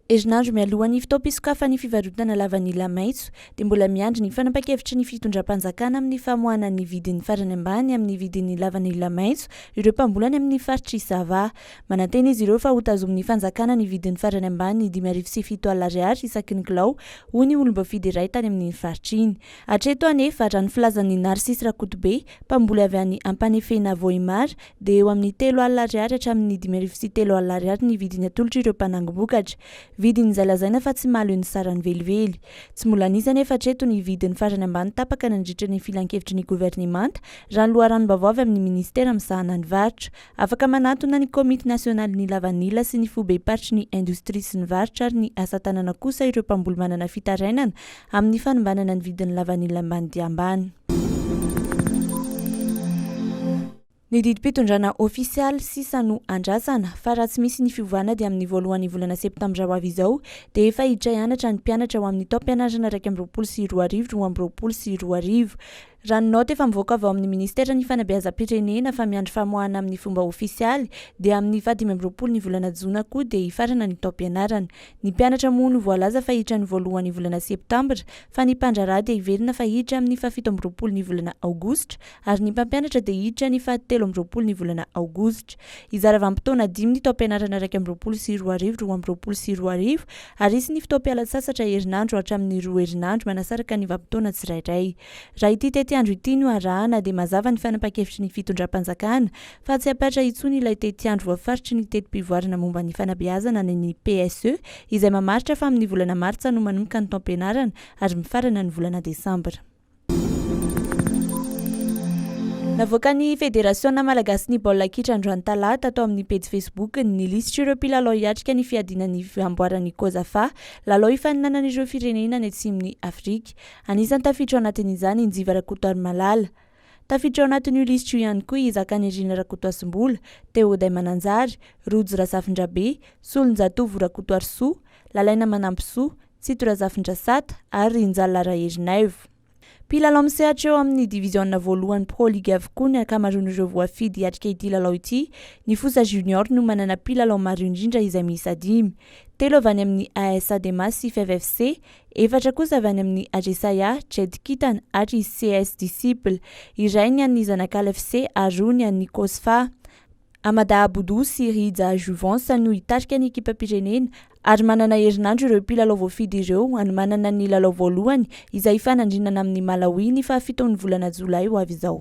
Herinandro mialohan'ny fotoam-pisokafan'ny fivarotana lavanila maitso dia mbola miandry ny fanapan-kevitry ny fitondram-panjakana amin'ny famoahana ny vidiny farany ambany amin'ny vidin'ny lavanila maitso ireo mpambolany amin'ny faritr'i Sava. Manantena izy ireo fa hotazomin'ny fanjakana ny vidiny farany ambany dimy arivo sy fito alina ariary isaky ny kilao, hoy ny olom-boafidy iray tany amin'iny faritra iny. Hatreto anefa, raha ny filazan'i Narcisse Rakotobe, mpamboly avy any Ampanefena Vohemar, dia eo amin'ny telo alina ariary hatramin'ny dimy arivo sy telo alina ariary ny vidiny atolotr' ireo mpanangom-bokatra. Vidin'izay lazaina fa tsy mahaleo ny sarany velively. Tsy mbola nisy anefa hatreto ny vidiny farany ambany tapaka nandritra ny filankevitry ny governemanta, raha ny loharanom-baovao avy amin'ny minisitera misahana ny varotra. Afaka manatona ny Komity nasionalin'ny lavanila sy ny foibem-paritry ny indostria sy ny varotra ary ny asa tanana kosa ireo mpamboly manana fitarainana amin'ny fanombanana ny vidin'ny lavanila ambany dia ambany. Ny didim-pitondrana ofisialy sisa no andrasana fa raha tsy misy ny fiovana dia amin'ny voalohan'ny volana septambra ho avy izao dia efa hiditra hianatra ny mpianatra ho amin'ny taom-pianarana iraika amby roapolo sy roa arivo roa amby roapolo sy roa arivo. Raha ny naoty efa mivoaka avy ao amin'ny Ministeran'ny Fanabeazam-pirenena fa miandry famoahana amin'ny fomba ofisialy dia amin'ny fahadimy amby roapolo ny volana jona koa dia hifarana ny taom-pianarana. Ny mpianatra moa no voalaza fa hiditra ny voalohan'ny volana septambra fa ny mpandraharaha dia hiverina fa hiditra amin'ny fahafito amby roapolo ny volana aogositra ary ny mpampianatra dia hiditra ny fahatelo amby roapolo ny volana aogositra. Hizara vanim-potoana dimy ny taom-pianarana iraika amby roapolo sy roa arivo roa amby roapolo sy roa arivo ary hisy ny fotoam-pialan-tsasatra herinandro hatramin'ny roa herinandro manasaraka ny vanim-potoana tsirairay. Raha ity tetiandro ity no arahana dia mazava ny fanapan-kevitry ny fitondram-panjakana fa tsy hampatra intsony ilay tetiandro voafaritry ny teti-pivoarana momba ny fanabeazana ny ny PSE izay mamaritra fa amin'ny volana martsa no manomboka ny taom-pianarana ary mifarana ny volana desambra. Navoakan'ny Federasiona malagasin'ny baolina kitra androany talata tao amin'ny pejy Facebook-ny ny lisitr'ireo mpilalao hiatrika ny fiadiana ny amboaran'i Cosafa, lalao hifaninanan'ireo firenena any atsimon'i Afrika. Anisan'ny tafiditra ao anatin'izany i Njiva Rakotoarimalala. Tafiditra ao anatin'io lisitra io ihany koa i Zakanirina Rakotoasimbola, Teoday Mananjary, Rojo Razafindrabe, Solonjatovo Rakotoarisoa, Lalaina Manampisoa, Tsito Razafindrasata ary Rinjalla Raherinaivo. Mpilalao misehatra eo amin'ny diviziona voalohany Pro League avokoa ny ankamaroan'ireo voafidy hiatrika ity lalao ity. Ny Fosa Junior no manana mpilalao maro indrindra izay miisa dimy. Telo avy any amin'ny AS Adema sy Fev FC, Efatra kosa avy any amin'ny Ajesaiah, Jedkitan, ary CS Disciple, iray ny an'ny zanak'Alfc ary roa ny an'ny Cosfa. Amada Aboudu sy Rija Jouvence no hitarika ny ekipam-pirenena ary manana herinandro ireo mpilalao voafidy ireo hanomanana ny lalao voalohany izay hifanandrinana amin'i Malawi ny fahafiton'ny volana jolay ho avy izao.